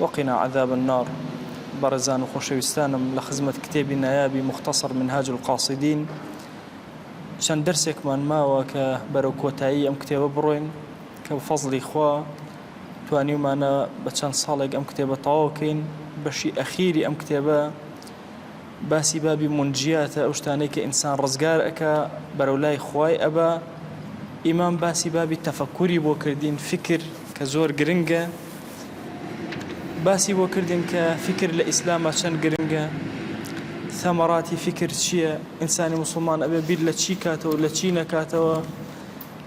وقنا عذاب النار بەڕێزان و خۆشەویستانم لە خزمەت کتێبی نایابی مختصر منهاج القاصدین چەند دەرسێکمان ماوە کە بەرەو کۆتایی ئەم کتێبە بڕۆین کە بە فەزلی خوا توانیومانە بە چەند ساڵێک ئەم کتێبە تەواوکەین بەشی ئەخیری ئەم کتێبە باسی بابی مونجیاتە ئەو شتانەی کە ئینسان ڕزگار ئەکا بەرەو لای خوای ئەبا ئیمام باسی بابی تەفەکوری بۆ کردین فکر کە زۆر گرنگە باسی بۆ کردین کە فکر لە ئیسلامە چەند گرنگە ثەمەراتی فکر چییە ئینسانی مسلمان ئەبێ بیر لە چی کاتەوە لە چی نەکاتەوە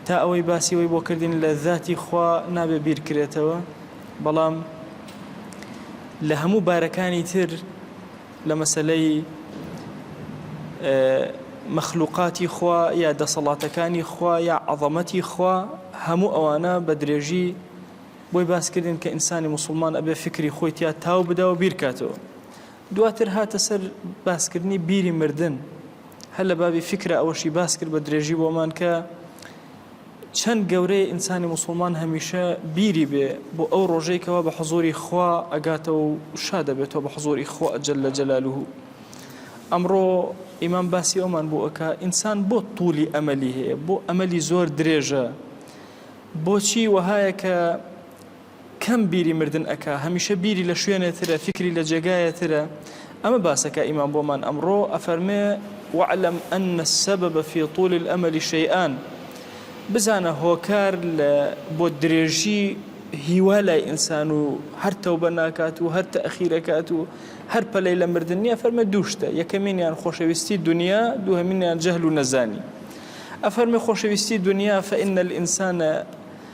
تا ئەوەی باسیەوەی بۆ کردین لە ذاتی خوا نابێ بیرکرێتەوە بەڵام لە هەموو بارەکانی تر لە مەسەلەی مەخلوقاتی خوا یا دەسەڵاتەکانی خوا یا عەظەمەتی خوا هەموو ئەوانە بە درێژی بۆی باسکردن کە ئینسانی مسلمان ئەبێ فکری خۆی تیا تاو بدا و بیرکاتەوە دواتر هاتە سەر باسکردنی بیری مردن هەر لە بابی فکرە ئەوەشی باس کرد بە درێژی بۆمان کە چەند گەورەیە ئینسانی موسوڵمان هەمیشە بیری بێ بۆ ئەو ڕۆژەی کەوا بە حزوری خوا ئەگاتەوە و شا دەبێتەوە بە حزوری خوا ئەجل لە جەلالوه ئەمڕۆ ئیمان باسی ئەومان بۆ ئەک ئینسان بۆ تولی ئەمەلی هەیە بۆ ئەمەلی زۆر درێژە بۆچی وەهایە کە کەم بیری مردن ئەکا هەمیشە بیری لە شوێنێ ترە فیکری لە جێگایێ ترە ئەمە باسە کە ئیمام بۆمان ئەمڕۆ ئەفەرمێ وەعلەم ئەن السبب فی طول الامل شیئان بزانە هۆکار لە بۆ درێژی هیوا لای ئینسان و هەر تەوبە ناکات و هەر تەخیرەکات و هەر پەلەی لە مردن نییە فەرمە دووشتە یەکەمینیان خۆشەویستی دنیا دوهمینیان جەهل و نەزانی ئەفەرمی خۆشەویستی دنیا فە ئینە الئینسانە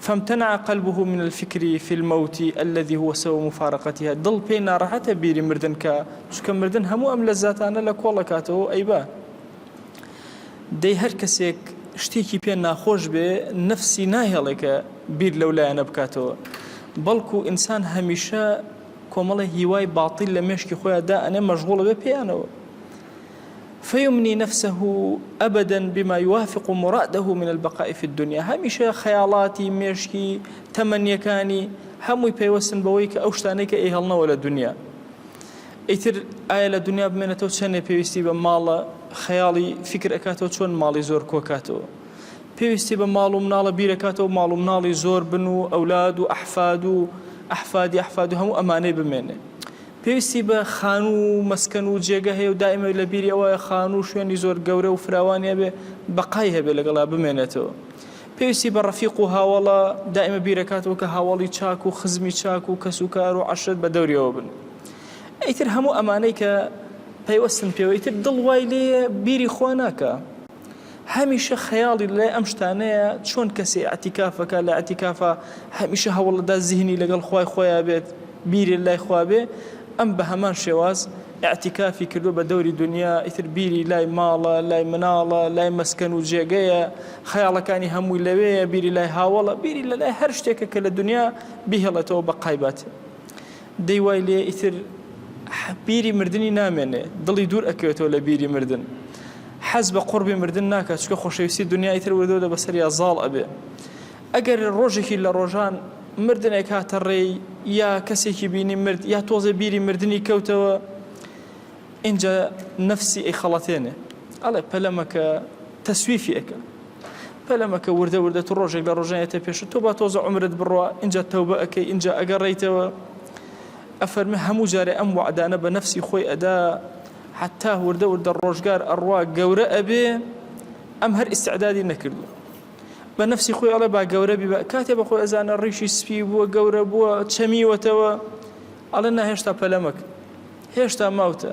فامتنع قلبه من الفکر فی الموت الذی هو سبب مفارقتها دڵ پێی ناڕەحەتە بیری مردن کا چونکە مردن هەموو ئەم لەزاتانە لە کۆڵ ئەکاتەوە و ئەیبا دەی هەر کەسێک شتێکی پێ ناخۆش بێ نەفسی ناهێڵێ کە بیر لەو لایەنە بکاتەوە بەڵکو ئینسان هەمیشە کۆمەڵی هیوای باتیل لە مێشکی خۆیان دا ئەنێ مەشغوڵە بێ پێیانەوە فیمنی نفسه ابدا بما یوافق مراده من البقاء فی الدنیا هەمیشە خەیاڵاتی مێشکی تەمەنیەکانی هەمووی پەیوەستن بەوەی کە ئەو شتانەی کە ئەیهڵنەوە لە دنیا ئیتر ئایا لە دنیا بمێنێتەوە چەندێ پێویستی بە ماڵە خەیاڵی فکر ئەکاتەوە چۆن ماڵی زۆر کۆکاتەوە پێویستی بە ماڵ و مناڵە بیرەکاتەوە ماڵ و مناڵی زۆر بن و ئەولاد و ئەحفاد و ئەحفادی ئەحفاد و هەموو ئەمانەی بمێنێ پێویستی بە خانوو و مەسکەن و جێگە هەیە و دائیمە لە بیری ئەوە خانوو و شوێنی زۆر گەورە و فراوانی هەبێ بەقای هەبێ لەگەڵا بمێنێتەوە. پێویستی بە ڕەفیق و هاوەڵە، دائیمە بیرەکاتەوە کە هاوەڵی چاک و خزمی چاک و کەس و کار و عەشرەت بە دەوریەوە بن. ئیتر هەموو ئەمانەی کە پەیوەستن پێوە ئیتر دڵ وای لێیە بیری خوا ناکا. هەمیشە خەیاڵی لای ئەم شتانەیە چۆن کەسێ ئەتیکافەکە لە ئەتیکافە هەمیشە هەوڵەدا زیهنی لەگەڵ خوای خۆیان بێت بیری لای خوابێ ئەم بە هەمان شێواز ئەتیکافی کردو بە دەوری دنیا ئیتر بیری لای ماڵە لای مناڵە لای مەسکەن و جێگەیە خەیاڵەکانی هەمووی لەوەیە بیری لای هاوڵە بیری لە لای هەر شتێکە کە لە دنیا بهێڵێتەوە بە قایبەت دەی وای لێ ئیتر بیری مردنی نامێنێ دڵی دوور ئەکەوێتەوە لە بیری مردن حەز بە قڕبی مردن ناکات چکە خۆشەویستی دنیای تر وردەوە لە بەسەریا زاڵ ئەبێ ئەگەر ڕۆژێکی لە ڕۆژان مردنێک هاتە ڕێی یا کەسێکی بینی مرد یا تۆزێ بیری مردنی کەوتەوە ئینجا نەفسی ئەی خەڵەتێنێ ئەڵێ پەلەمەکە تەسویفی ئەەکە پەلەمەکە وردە وردە تو ڕۆژێک لە ڕۆژان ئێتە پێشت تۆ با تۆزە عومرت بڕوا ئینجا تەوبە ئەکەی ئینجا ئەگەڕێیتەوە ئەفەرمێ هەموو جارێ ئەم وعدانە بە نەفسی خۆی ئەدا حتا وردە وردە ڕۆژگار ئەڕوا گەورە ئەبێ ئەم هەر ئیسعدادی نەکردووە بە نفسی خۆی ئەڵێ با گەورە بی کاتێ بەخۆی ئەزانە ڕیشی سپی بووە گەورە بووە چەمیوەتەوە ئەڵێ ناهێشتا پەلەمەک هێشتا ماوتە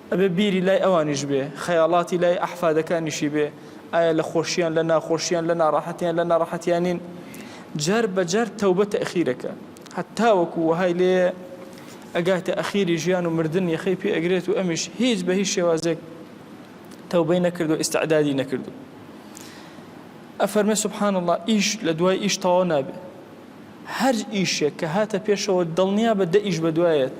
ئەبێ بیری لای ئەوانیش بێ، خەیاڵاتی لای ئەحفادەکانیشی بێ، ئایا لە خۆشیان لە ناخۆشیان، لە ناڕەحەتیان لە ناڕەحەتیانین؟ جار بە جار تەوبە تەئخیرەکە، هەتاوەکو وەهای لێیە ئەگاتە ئەخیری ژیان و مردن یەخەی پێ ئەگرێت و ئەمیش هیچ بە هیچ شێوازێک تەوبەی نەکردوە ئیستعدادی نەکردوە. ئەفەرمێ سبحان اللە ئیش لە دوای ئیش تەواو نابێ، هەر ئیشێک کە هاتە پێشەوە دڵنیابە دە ئیش بە دوایەت.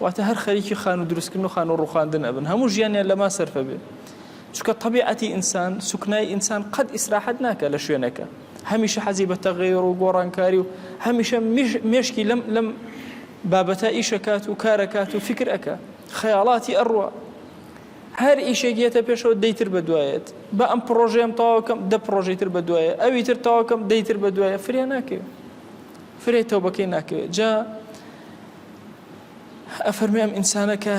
واتە هەر خەریکی خانوو دروستکردن و خانوو ڕوخاندن ئەبن هەموو ژیانیان لەما سەرفە بێ چکە طبیعەتی ئینسان سوکنای ئینسان قەت ئیسراحەت ناکە لە شوێنەکە هەمیشە حەزی بە تەغیر و گۆڕانکاری و هەمیشە مشکی لەم لەم بابەتە ئیشەکات و کارەکات و فکر ئەەکە خەیاڵاتی ئەڕوە هەر ئیشێک یەتە پێشەوە دەیتر بە دوایەت بە ئەم پرۆژەیەم تاواکەم دە پرۆژەی تر بە دوایە ئەوی تر تاواکەم دەیتر بە دوایە فریا ناکەوێت فرێتەوە بەکەی ناکەوێت جا ئەفەرموێ ئەم ئینسانە کە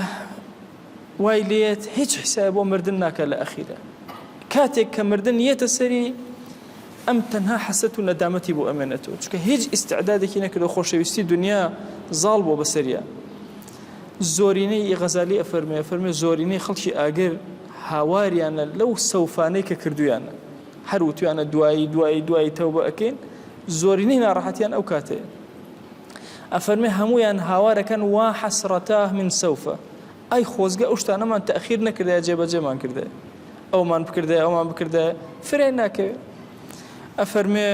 وای لێت هیچ حسای بۆ مردن ناکە لە ئەخیرە کاتێک کە مردن یەتە سەری ئەم تەنها حەسەت و نەدامەتی بۆ ئەمێنێتەوە چکە هیچ ئیسعدادێکی نەکردو خۆشەویستی دنیا زاڵ بۆ بەسەریە زۆرینەی ئی غەزالی ئەفەرمێ فەرمێ زۆرینەی خەڵکی ئاگر هاواریانە لەو سەوفانەی کە کردویانە هەر وتویانە دوایی دوایی دوایی تەوبە ئەکەین زۆرینەی ناڕەحەتیان ئەو کاتەیە ئەفەرمێ هەموویان هاوارەکەن وا حەسرەتاه من سەوفە ئای خۆزگە ئەو شتانەمان تەخیر نەکردای جێبەجێمان کردای ئەومان بکردای ئەومان بکردای فرای ناکەوێت ئەفەرمێ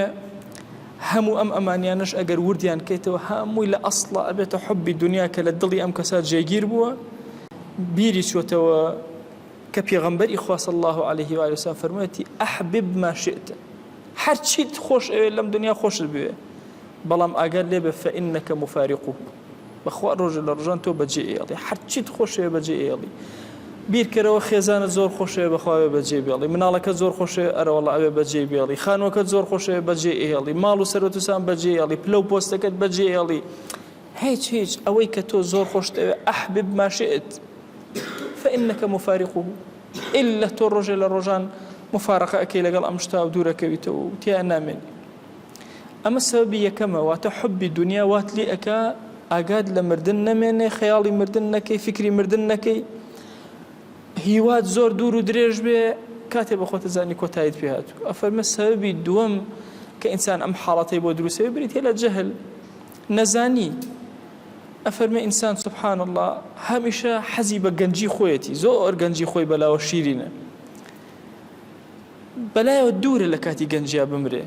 هەموو ئەم ئەمانیانش ئەگەر وردیان کەیتەوە هەمووی لە ئەسڵە ئەبێتە حبی دنیا کە لە دڵی ئەم کەسا جێگیر بووە بیری چۆتەوە کە پێغەمبەری خواص الله عليه و علیسا فەرموویەتی ئەحبب ماشێتە هەرچیت خۆش ئەوێت لەم دنیا خۆشت بوێ بەڵام ئاگات لێ بێ فەئینەکە موفاریقوه بەخوا ڕۆژێ لە ڕۆژان تۆ بەجێ ئێڵی هەر چیت خۆشەوێ بەجێ ئێڵی بیرکەرەوە خێزانە زۆر خۆشەوێ بەخواوێ بەجێ بێڵی مناڵەکە زۆر خۆشەوێ ئەرەوەڵ ئەوێ بەجێ بێڵی خانوەکە زۆر خۆشەوێ بەجێ ئێڵی ماڵ و سەرەتوسان بەجێ ئێڵی پلە و پۆستەکەت بەجێ ئێڵی هیچ هیچ ئەوەی کە تۆ زۆر خۆشتەوێ ئەحبب ماشئت فەئینەکە مفاریقوه ئللا تۆ ڕۆژێ لە ڕۆژان مفارقە ئەەکەی لەگەڵ ئەم شتا و دوورەکەویتەوە و تیا نامێنی ئەمە سەبەبی یەکەمە واتە حوبی دونیا وات لێ ئەکا ئاگات لە مردن نەمێنێ خەیاڵی مردن نەکەی فکری مردن نەکەی هیوات زۆر دوور و درێژ بێ کاتێ بە خۆتە زانی کۆتایت پێ هاتوو ئەفەرمە سەبی دووەم کە ئینسان ئەم حاڵەتەی بۆ دروستەوە بریتە لە جەهل نەزانی ئەفەرمە ئینسان سبحان الله هەمیشە حەزی بە گەنجی خۆیەتی زۆر گەنجی خۆی بەلاوە شیرینە بەلایەوە دوورە لە کاتی گەنجیا بمرێ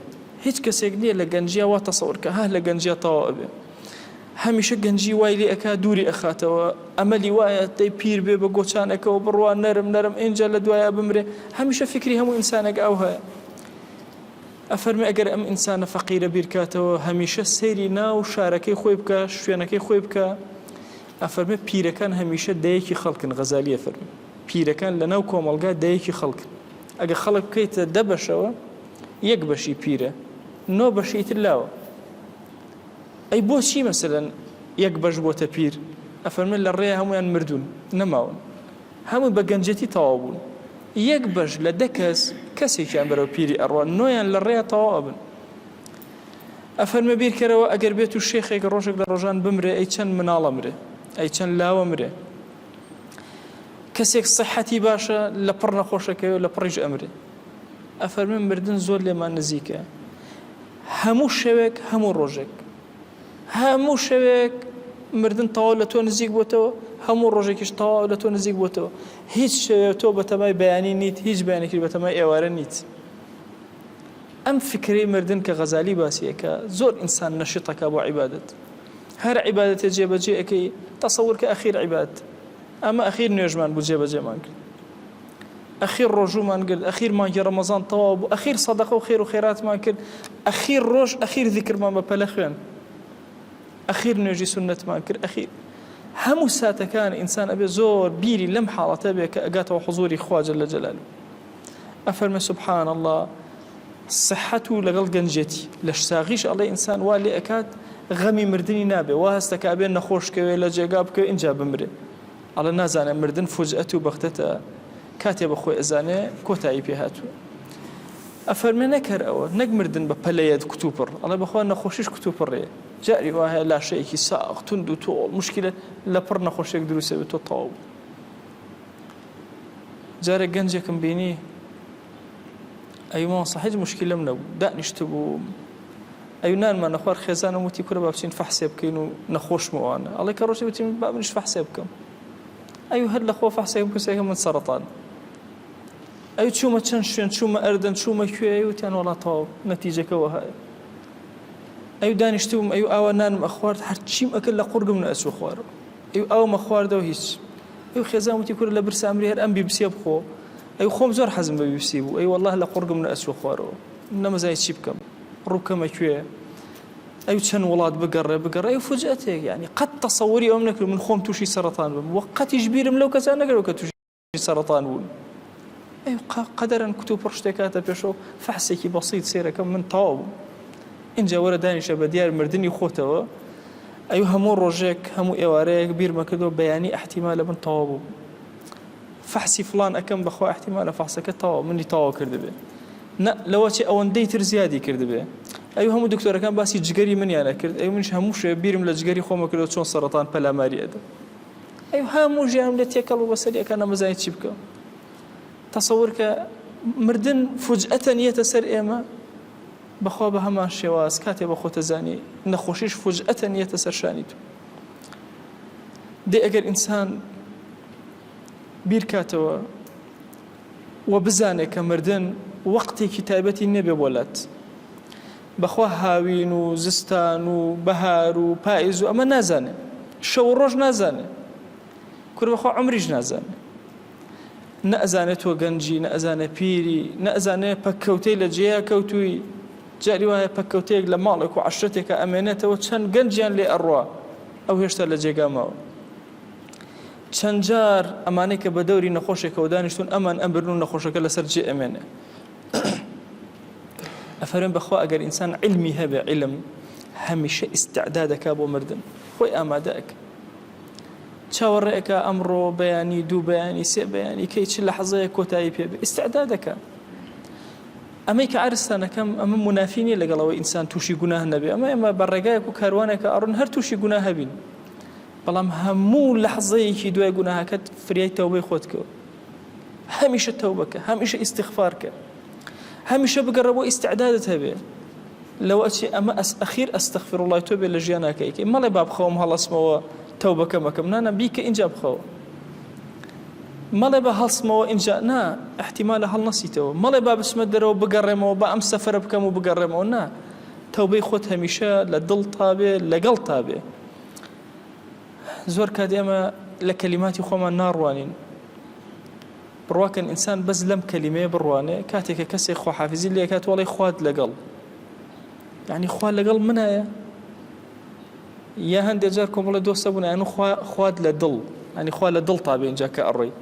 هیچ کەسێک نیە لە گەنجیا وا تەسەور کە هه لە گەنجیا تەواو ئەبێ هەمیشە گەنجی وای لێ ئەکا دووری ئەخاتەوە ئەمەلی وایە دەی پیر بێ بە گۆچانەکەەوە بڕوا نەرم نەرم ئینجا لە دوایە بمرێ هەمیشە فکری هەموو ئینسانەکە ئەو هەیە ئەفەرمی ئەگەر ئەم ئینسانە فەقیرە بیرکاتەوە هەمیشە سەیری ناو شارەکەی خۆی بکە شوێنەکەی خۆی بکە ئەفەرمێ پیرەکان هەمیشە دەیەکی خەڵکن غەزالیە فەرمی پیرەکان لە ناو کۆمەلگا دەیەکی خەڵکن ئەگەر خەڵک بکەیتە دە بەشەوە یەک بەشی پیرە نۆ بەشی تر لاوە ئەی بۆچی مەسەن یەک بەش بۆتە پیر ئەفەرمن لە ڕێ هەمویان مردوون نەماون هەموو بە گەنجەتی تەواو بوون یەک بەش لە دە کەس کەسێکیان بەرەو پیری ئەڕوە نۆیان لە ڕێ تەواو ئەبن ئەفەرمە بیرکەرەوە ئەگەر بێت و شێخێک ڕۆژێک لە ڕۆژان بمرێ ئەی چەند مناڵە مرێ ئەی چەند لاوە مرێ کەسێک سەحەتی باشە لە پڕ نەخۆشەکەی و لە پڕیش ئەمرێ ئەفەرمن مردن زۆر لێمان نزیکە هەموو شەوێک هەموو ڕۆژێک هەموو شەوێک مردن تەواو لە تۆ نزیک بۆتەوە هەموو ڕۆژێکیش تەواو لە تۆ نزیک بۆتەوە هیچ شەوێ تۆ بەتەمای بەیانی نیت هیچ بەیانێکی بەتەمای ئێوارە نیت ئەم فکری مردن کە غەزالی باسیەکە زۆر ئینسان نەشیتەکە بۆ عیبادت هەر عیبادەتێ جێ بەجێ ئەکەی تەسەور کە ئەخیر عیبادەت ئەمە ئەخیر نوێژمان بوو جێ بەجێمان کرد ئەخیر ڕۆژومان گرد ئەخیر مانگی ڕەمەزان تەواو بوو ئەخیر سەدەقە و خێر و خێراتمان کرد ئەخیر ڕۆژ ئەخیر ذکرمان بە پەلە خوێن ئەخیر نوێژی سنتمان کرد ئەخیر هەموو ساتەکان ئینسان ئەبێ زۆر بیری لەم حاڵەتە بێ کە ئەگاتەوە حزوری خواجە لە جەلال ئەفەرمێ سبحان اللە سحەت و لەگەڵ گەنجێتی لەش ساغیش ئەڵێ ئینسان وا لێ ئەکات غەمی مردنی نابێ وا هەستەکە بێ نەخۆش کەوێ لە جێگا بکەوێ اینجا بمرێ ئەڵە نازانێ مردن فوجئەت و بەختەتە کاتێ بە خۆی ئەزانێ کۆتایی پێ هاتووە ئەفەرمێ نەکەر ئەوە نەک مردن بە پەلەیەت کوتوپڕ ئەڵێ بەخوا نەخۆشیش کوتوپڕێ جاری وایە لاشەیەکی ساغ تونند و تۆڵ مشکلە لە پڕ نەخۆشێک دروسێ بێت تۆ تەواو جارێک گەنجێکم بینی ئەوی مامۆستا هیچ مشکلم نەبوو دانیشتبووم ئەو نانمان نەخوار خێزانم وتی کورە با بچین فەحسێ بکەین و نەخۆشمەوانە ئەڵێ کە ڕۆژی وتیم با منش فەحسێ بکەم ئەو هەر لە خۆ فەحسێکم کەسێکە من سەرەتان ئەو چوومە چەند شوێن چوومە ئەردەن چوومە کوێ وتیان وڵات تەواو نەتیجەکەەوە هەیە ئەو دانیشتبووم ئەو ئاوا نانم ئەخوارد هەرچیم ئەکرد لە قورگم نەچوو خوارەوە ئیو ئاومە خواردەو هیچ. ئیو خێزان وتی کورە لە برسا ئەمری هەر ئەم بیبسیە بخۆ. ئیو خۆم زۆر حەزم بە بیبسی بوو. ئیو وەڵاهی لە قوڕگم نەئەچووە خوارەوە. من نەمزانی چی بکەم. ڕوو بکەمە کوێ. ئیو چەند وڵات بگەڕێ بگەڕێ. ئیو فوجئەتێک یانی قەت تەسەوری ئەوەم نەکرد من خۆم تووشی سەڕەتان بم. وە قەتیش بیرم لەو کەسە نەکردوە کە تووشی. توشی سەرەتان بوون قەدەرن کتو پڕ شتێکاتە پێشەوە فەحسێکی بەسییت سێرەکەم من تاو بوو اینجا وەرە دانیشە بە دیار مردنی خۆتەوە ئەی هەموو ڕۆژێک هەموو ئێوارەیەک بیرمە کردەوە بەیانی ئەحتیما لە من تەوا بوو فەحسی فلان ئەەکەم بەخوا ئەحتیما لە فەحسەکە تەوا منی تەوا کردبێ لەوە چێ ئەوەندەی تر زیادی کردبێ ئەو هەموو دکتۆرەکان باسی جگەری منیانە کرد ئەو منش هەموو شێ بیرم لە جگەری خۆمە کردەوە چۆن سەرەتان پەلاماری ئەدە ئەی هەموو ژیانم لێ تێکەڵ بوو بەسەری ئەکا نەمەزانی چی بکەم تەسەور کە مردن فوجئەتەن یەتە سەر ئێمە بەخوا بە هەمان شێواز کاتێ بە خۆتە زانی نەخۆشیش فوجئەتەن یەتە سەر شانی تو دێ ئەگەر ئینسان بیرکاتەوە و بزانێت کە مردن وەقتێکی تایبەتی نەبێ بۆلات بەخوا هاوین و زستان و بەهار و پائیز و ئەمە نازانێ شەو و ڕۆژ نازانێ کورە بەخوا عمریش نازانێ نەزانێت تۆ گەنجی نەزانێ پیری نەزانێ پەککەوتەی لە جێە کەوتووی جاری وایە پەککەوتەیەک لە ماڵێک و عشرەتێکە ئەمێنێتەوە چەند گەنجیان لێ ئەڕوا ئەو هێشتا لە جێگامەوە چەندجار ئەمانەی کە بە دەوری نەخۆشێکەوە دانیشتون ئەمان ئەمبرن و نەخۆشەکە لەسەر جێ ئەمێنێ ئەفەرم بەخوا ئەگەر ئینسان علمی هەبێ علم هەمیشە ئیسعدا دەکا بۆ مردن خۆی ئامادەک چاوەڕێکە ئەمڕۆ بەیانی دوو بەیانی سێ بەیانی کەی چ لە حەزەیە کۆتایی پێ ئیسعدا دەکە ئەمەی کە ئارستانەکەم ئەمە منافینی لەگەڵەوە ئینسان تووشی گوناه نەبێ ئەمە ئێمە بە ڕێگایەک و کاروانێکە ئەڕون هەر تووشی گوناه هەبین بەڵام هەموو لە حەزەیەکی دوای گوناهەکەت فریای تەوبەی خۆت کەوت هەمیشە تەوبەکە هەمیشە ئیسیغفارکە هەمیشە بگەڕە بۆ ئیسعدادت هەبێ لەوە چی ئەمە ئەس ئەخیر ئەستەخفر وڵای تۆ بێ لە ژیان ناکەیکەی مەڵێ با بخەوم هەڵسمەوە تەوبەکە مەکەم نانە بیکە اینجا بخەوە مەڵێ بە هەڵسمەوە اینجا نا احتیمالە هەڵنەسیتەوە مەڵێ با بسمە دەرەوە بگەڕێمەوە بە ئەم سەفرە بکەم و بگەڕێمەوە نا تەوبەی خۆت هەمیشە لە دڵ تابێ لەگەڵ تابێ زۆر کات ئێمە لە کەلیماتی خۆمان ناڕوانین بڕواکەن ئینسان بەس لەم کەلیمەیە بڕوانێ کاتێکە کەسێک خۆحافزی لێکات وڵی خوات لەگەڵ یعنی خوا لەگەڵ منایە یا هەندێک جار کۆمەڵە دۆستە بوون ئەن خوات لە دڵ ئەنی خوا لە دڵ تا بێنجا کە ئەڕۆی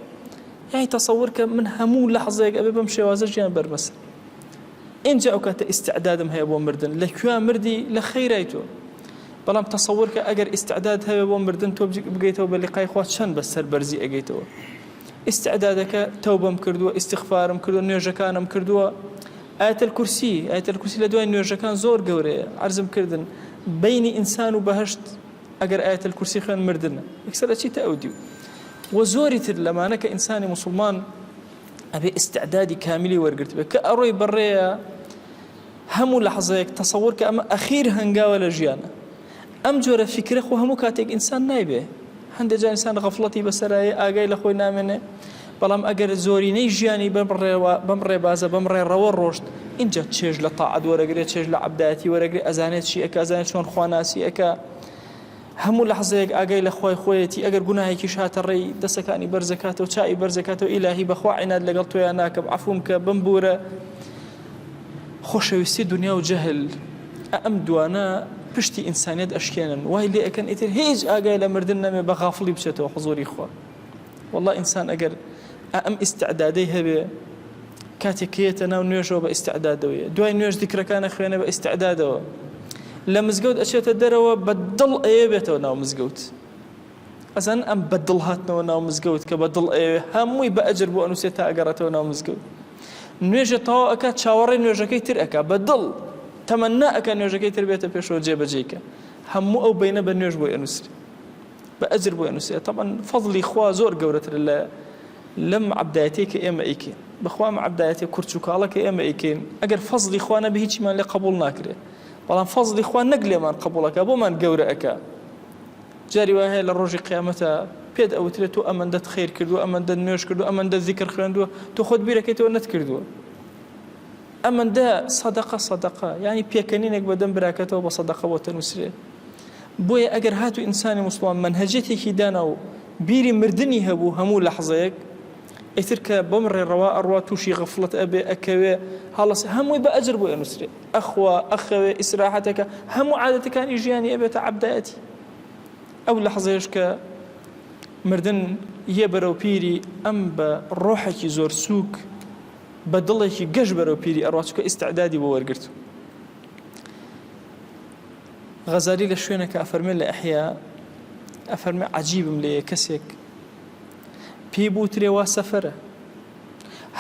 یای تەسەور کە من هەموو لە حەزێک ئەبێ بم شێوازە ژیان بەرمەسە ئینجا ئەو کاتە ئیستعدادم هەیە بۆ مردن لە کوێ مردی لە خەیرای تۆ بەڵام تەسەور کە ئەگەر ئیستعداد هەیە بۆ مردن تۆ بگەیتەوە بە لقای خوا چەند بە سەربەرزی ئەگەیتەوە ئیستعدادەکە تەوبەم کردووە ئیسیغفارم کردو نوێژەکانم کردووە ئاتل کورسی ئاتل کورسی لە دوای نوێژەکان زۆر گەورەیە عرضم کردن بینی ئینسان و بەهشت ئەگەر ئاتل کورسی خوێن مردن ئەکسەر ئەچیتە ئەو دیو وە زۆری تر لەمانە کە ئینسانی مسلمان ئەبێ ئیستعدادی کامیلی وەرگرتبێ کە ئەڕۆی بەڕێە هەموو لە حەزەیەک تەسەور کە ئەمە ئەخیر هەنگاوە لە ژیانە ئەم جۆرە فکرە خۆ هەموو کاتێک ئینسان نایبێ هەندێک جا ئینسان غەفڵەتی بەسەرایە ئاگای لە خۆی نامێنێ بەڵام ئەگەر زۆرینەی ژیانی بەڕێوە بەم ڕێبازە بەم ڕێڕەوە ڕۆشت اینجا چێژ لە تاعد وەرەگرێت چێژ لە عبدایەتی وەرەگری ئەزانێت چی ئەکزانێت چۆن خواناسی ئەکە هەموو لەحزەیەک ئاگای لە خوای خۆیەتی ئەگەر گوناهێکیش هاتە ڕێی دەستەکانی بەرزەکاتەوە چاوی بەرزەکاتەوە ئیلاهی بەخوا عیناد لەگەڵ تۆیا ناکەم عەفوم کە بمبورە خۆشەویستی دنیا و جەهل ئەم دوانە پشتی ئینسانیت ئەشکێنن وای لێ ئەکەن ئیتر هیچ ئاگای لە مردن نەمێ بە غافڵی بچێتەوە حزوری خوا وەڵڵا ئینسان ئەگەر ئەم ئیستعدادەی هەبێ کاتێک کێتە ناو نوێژەوە بە ئیستعدادەوەیە دوای نوێژ دیکرەکانە خوێنە بە ئیستعدادەوە لە مزگەوت ئەچێتە دەرەوە بە دڵ ئەیە بێتەوە ناو مزگەوت ئەزان ئەم بە دڵ هاتنەوە ناو مزگەوت کە بە دڵ ئەوێ هەمووی بە ئەجر بۆ ئەنووسێت تا ئەگەڕێتەوە ناو مزگەوت نوێژە تەوا ئەک چاوەڕێ نوێژەکەی تر ئەک بە دڵ تەمەنا ئەک نوێژەکەی تر بێتە پێشەوە جێبەجێکە هەموو ئەو بینە بە نوێژ بۆی ئەنووسری بە ئەجر بۆی ئەنوسرێ تەبعەن فەزڵی خوا زۆر گەورەترە لە لەم عەبدایەتەی کە ئێمە ئەیکەین بەخوا ئەم عەبدایەتە کورچ و کاڵە کە ئێمە ئەیکەین ئەگەر فەزڵی خوا نەبێ هیچیمان لێ قبول ناکرێ بەڵام فەزڵی خوا نەک لێمان قبولەکە بۆمان گەورە ئەکا جاری وای هەیە لە ڕۆژی قیامەتە پێت ئەوترێت تۆ ئەمەندەت خیر کردو ئەمەندە نوێش کردو ئەمەندە ذیکر خوێندووە تۆ خۆت بیرەکەیتەوە نەت کردووە ئەمەندە سەدەقە سەدەقە ینی پێکەنینێک بەدەم براکەتەوە بە سەدەقە بۆ تەنووسێ بۆیە ئەگەر هاتو ئینسانی موسڵمان مەنهەجیەتێکی دانا و بیری مردنی هەبوو هەموو لەحزەیەک ئیتر کە بەم ڕێڕەوا ئەڕوا تووشی غەفڵت ئەبێ ئەکەوێ هەڵس هەمووی بە ئەجر بۆ ئەنووسرێ ئەخوا ئەخەوێ ئیسراحەتەکە هەموو عادەتەکانی ژیانی ئەبێتە عبدایەتی ئەو لەحزەیەش کە مردن یە بەرەو پیری ئەم بە ڕۆحێکی زۆر سووک بە دڵێکی گەش بەرەو پیری ئەڕاچکە ئیسعدادی بۆ وەرگرت غەزالی لە شوێنەکە ئەفەرمێ لە ئەحیا ئەفەرمێ عەجیبم لێیە کەسێک پێی بوترێ وا سەفەرە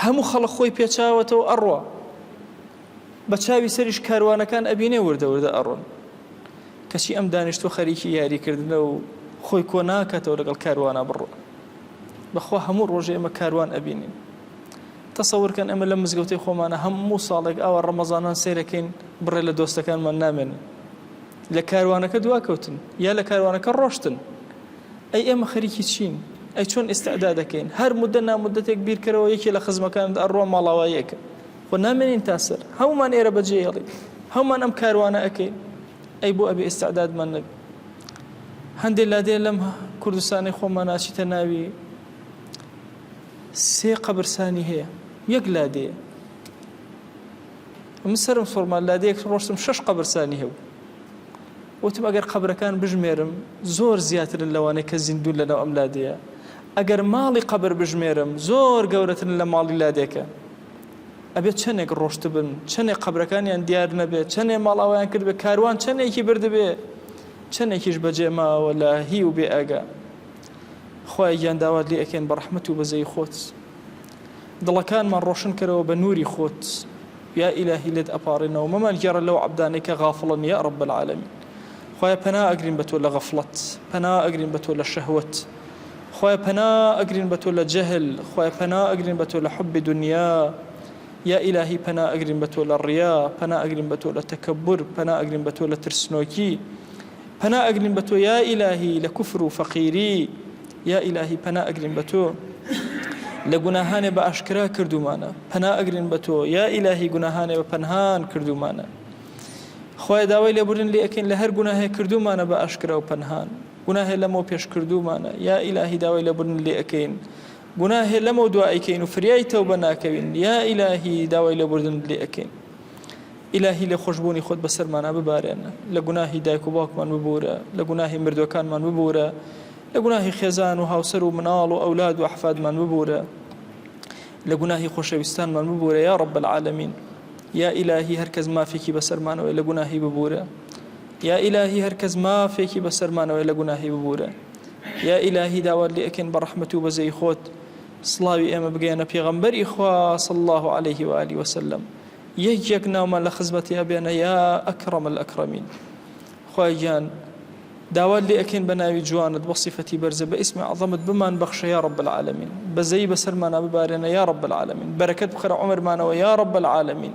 هەموو خەڵق خۆی پێچاوەتەوە ئەڕوا بە چاوی سەریش کاروانەکان ئەبینێ وردە وردە ئەڕۆن کەچی ئەم دانیشتۆ خەریکی یاریکردنە و خۆی کۆ ناکاتەوە لەگەڵ کاروانە بڕۆ بەخوا هەموو ڕۆژێ ئمە کاروان ئەبینین تەسەور کەن ئێمە لەم مزگەوتەی خۆمانە هەموو ساڵێک ئاوا ڕەمەزانان سەیرەکەین بڕێ لە دۆستەکانمان نامێنن لە کاروانەکە دوا کەوتن یا لە کاروانەکە ڕۆشتن ئەی ئێمە خەریکی چین ئەی چۆن ئێستادا دەکەین هەر مدە نامدەتێک بیرکەرەوە یەکێ لە خزمەکان ئەڕۆ ماڵاوایەکە خۆ نامێنین تاسەر هەمومان ئێرە بەجێڵی هەمومان ئەم کاروانە ئەەکەین ئەی بۆ ئەبێ ئێستادادمان نەبێ هەندێک لادێ لەم کوردستانی خۆمان ناچیتە ناوی سێ قەبرسانی هەیە یەک لادێیە من سرم سوڕما لادێک ڕۆشتم شەش قەبرسانی هەبوو وتم ئەگەر قەبرەکان بژمێرم زۆر زیاترن لەوانەیە کە زیندون لەناو ئەم لادەیە ئەگەر ماڵی قەبر بژمێرم زۆر گەورەترن لە ماڵی لادێکە ئەبێت چەندێک ڕۆشتبن چەندێک قەبرەکانیان دیار نەبێت چەندێ ماڵاویان کرد بە کاروان چەندێکی بردبێ چەندێکیش بەجێماوە لە هی و بێ ئەگە خوایە گیان داوات لێ ئەکەین بە ڕەحمەت و بەزەی خۆت دڵەکانمان ڕۆشن کەرەوە بە نوری خۆت یا ئیلاهی لێت ئەپاڕێنەوە مەمان گێڕە لەو عەبدانەی کە غافڵن یا رب العالمین خوایە پەنا ئەگرین بە تۆ لە غەفڵەت پەنا ئەگرین بە تۆ لە شەهوت خوای پەنا ئەگرین بە تۆ لە جەهل خوای پەنا ئەگرین بە تۆ لە حب دنیا یا ئیلاهی پەنا ئەگرین بە تۆ لە ڕیا پەنا ئەگرین بە تۆ لە تەکەبور پەنا ئەگرین بە تۆ لە ترسنۆکی پەنا ئەگرین بە تۆ یا ئیلاهی لە کوفر و فەقیری یا ئیلاهی پەنا ئەگرین بە تۆ لە گوناهانێ بە ئاشکرا کردومانە پەنا ئەگرین بە تۆ یا ئیلاهی گوناهانێ بە پەنهان کردومانە خۆی داوای لێبوردن لێ ئەکەین لە هەر گوناهێ کردومانە بە ئاشکرا و پەنهان گوناهێ لەمەوە پێش کردومانە یا ئیلاهی داوای لێبوردن لێ ئەکەین گوناهێ لەمەو دوائیکەین و فریای تەوبە ناکەوین یا ئیلاهی داوای لێبوردن لێ ئەکەین ئیلاهی لێخۆشبوونی خۆت بەسەرمانا ببارێن، لە گوناهی دایک و باوکمان ببوورە، لە گوناهی مردووەکانمان ببوورە، لە گوناهی خێزان و هاوسەر و مناڵ و ئەولاد و ئەحفادمان ببوورە، لە گوناهی خۆشەویستانمان ببوورە یا رب العالمین، یا ئیلاهی هەر کەس مافێکی بەسەرمانەوەیە لە گوناهی ببوورە، یا ئیلاهی هەر کەس مافێکی بەسەرمانەوەیە لە گوناهی ببوورە، یا ئیلاهی داوات لێ ئەکەین بە رەحمەت و بەزەی خۆت سڵاوی ئێمە بگەیەنە پێغەمبەری خوا صلی اللە علیه و آله و سلم، یەک یەک ناومان لە خزمەتی ئەبێنە یا اکرم الاکرمین خوایە گیان داوات لێ ئەکەین بە ناوی جوانت بە صفەتی بەرزە بە ئیسمی عظەمت بمان بەخشە یا رب العالمین بەزەی بەسەرمانە ببارێنە یا رب العالمین بەرەکەت بخەرە عمرمانەوە یا رب العالمین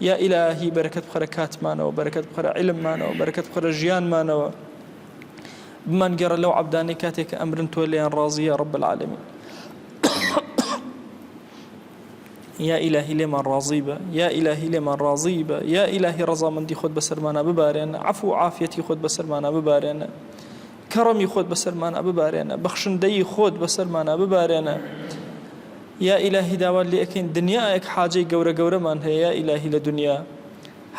یا ئیلاهی بەرەکەت بخەرە کاتمانەوە بەرەکەت بخەرە علممانەوە بەرەکەت بخەرە ژیانمانەوە بمان گەڕە لەو عبدانەی کاتێک ئەمرن تۆ لێیان ڕازیە رب العالمین یا ئیلاهی لێمان ڕازی بە یا ئیلاهی لێمان ڕازی بە یا ئیلاهی ڕەزامەندی خۆت بەسەرمانە ببارێنە عفو و عافیەتی خۆت بەسەرمانە ببارێنە کەڕەمی خۆت بەسەرمانە ببارێنە بەخشندەیی خۆت بەسەرمانە ببارێنە یا ئیلاهی داوات لێ ئەکەین دنیایەک حاجەی گەورە گەورەمان هەیە یا ئیلاهی لە دنیا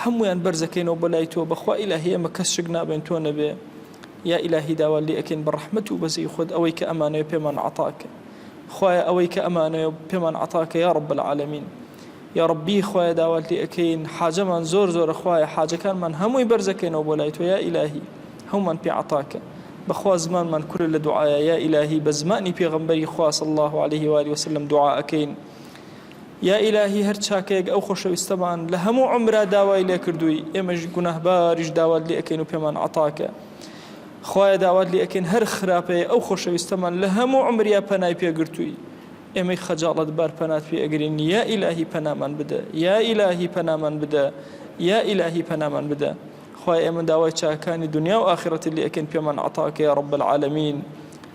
هەمویان بەرزەکەینەوە بەلای تۆ بەخوا ئیلاهی ئەمە کەس شک نابێن تۆ نەبێ یا ئیلاهی داوا لێ ئەکەین بە ڕەحمت و بەزەی خۆت ئەوەی کە ئەمانەیە پێمان عتاکە خوایە ئەوەی کە ئەمانەوێ پێمان عەتا کە یا رب العالمین یا ربی خوایە داوات لێ ئەکەین حاجەمان زۆر زۆرە خوایە حاجەکانمان هەمووی بەرزەکەینەوە بۆ لای تۆ یا ئیلاهی هەومان پێ عەتا کە بەخوا زمانمان کورە لە دوعاە یا ئیلاهی بە زمانی پێغمبەری خوا صلی الله عليه و آله وسلم دوعا ئەکەین یا ئیلاهی هەر چاکەیەک ئەو خۆشەویستەمان لە هەموو عمرا داوای لێکردووی ئێمەش گوناهباریش داوات لێ ئەەکەین و پێمان عتاکە خوایە داوات لێ ئەکەین هەر خراپەیە ئەو خۆشەویستەمان لە هەموو عومریا پەنای پێ گرتووی ئێمەی خەجاڵەت بار پەنات پێ ئەگرین یا ئیلاهی پەنامان بدە یا ئیلاهی پەنامان بدە یا ئیلاهی پەنامان بدە خوای ئێمە داوای چاکانی دنیا و ئاخرەتی لێ ئەکەین پێمان عەتاکە یا رب العالمین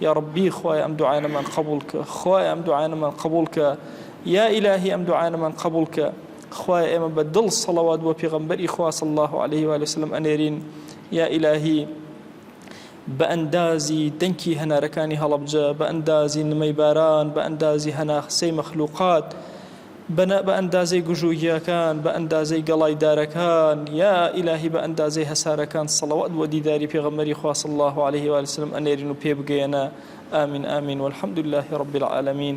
یا ربی خوای ئەم دوعایەمان قبول کە خوای ئەم دوعایەمان قبول کە یا ئیلاهی ئەم دوعایەمان قبول کە خوای ئێمە بە دڵ سەڵەوات بۆ پێغەمبەری خوا صلی الله علیه و آله وسلم ئەنێرین یا ئیلاهی بە ئەندازی دەنکی هەنارەکانی هەڵەبجە بە ئەندازی نمەی باران بە ئەندازی هەناخسەی مەخلوقات بەنە بە ئەندازەی گژوگیاکان بە ئەندازەی گەڵای دارەکان یا ئیلاهی بە ئەندازەی هەسارەکان سەڵەوات بۆ دیداری پێغەمەری خواص الله عليه وسلم ئەنێرین و پێ بگەیەنە ئامین ئامین والحمد لله رب العالمین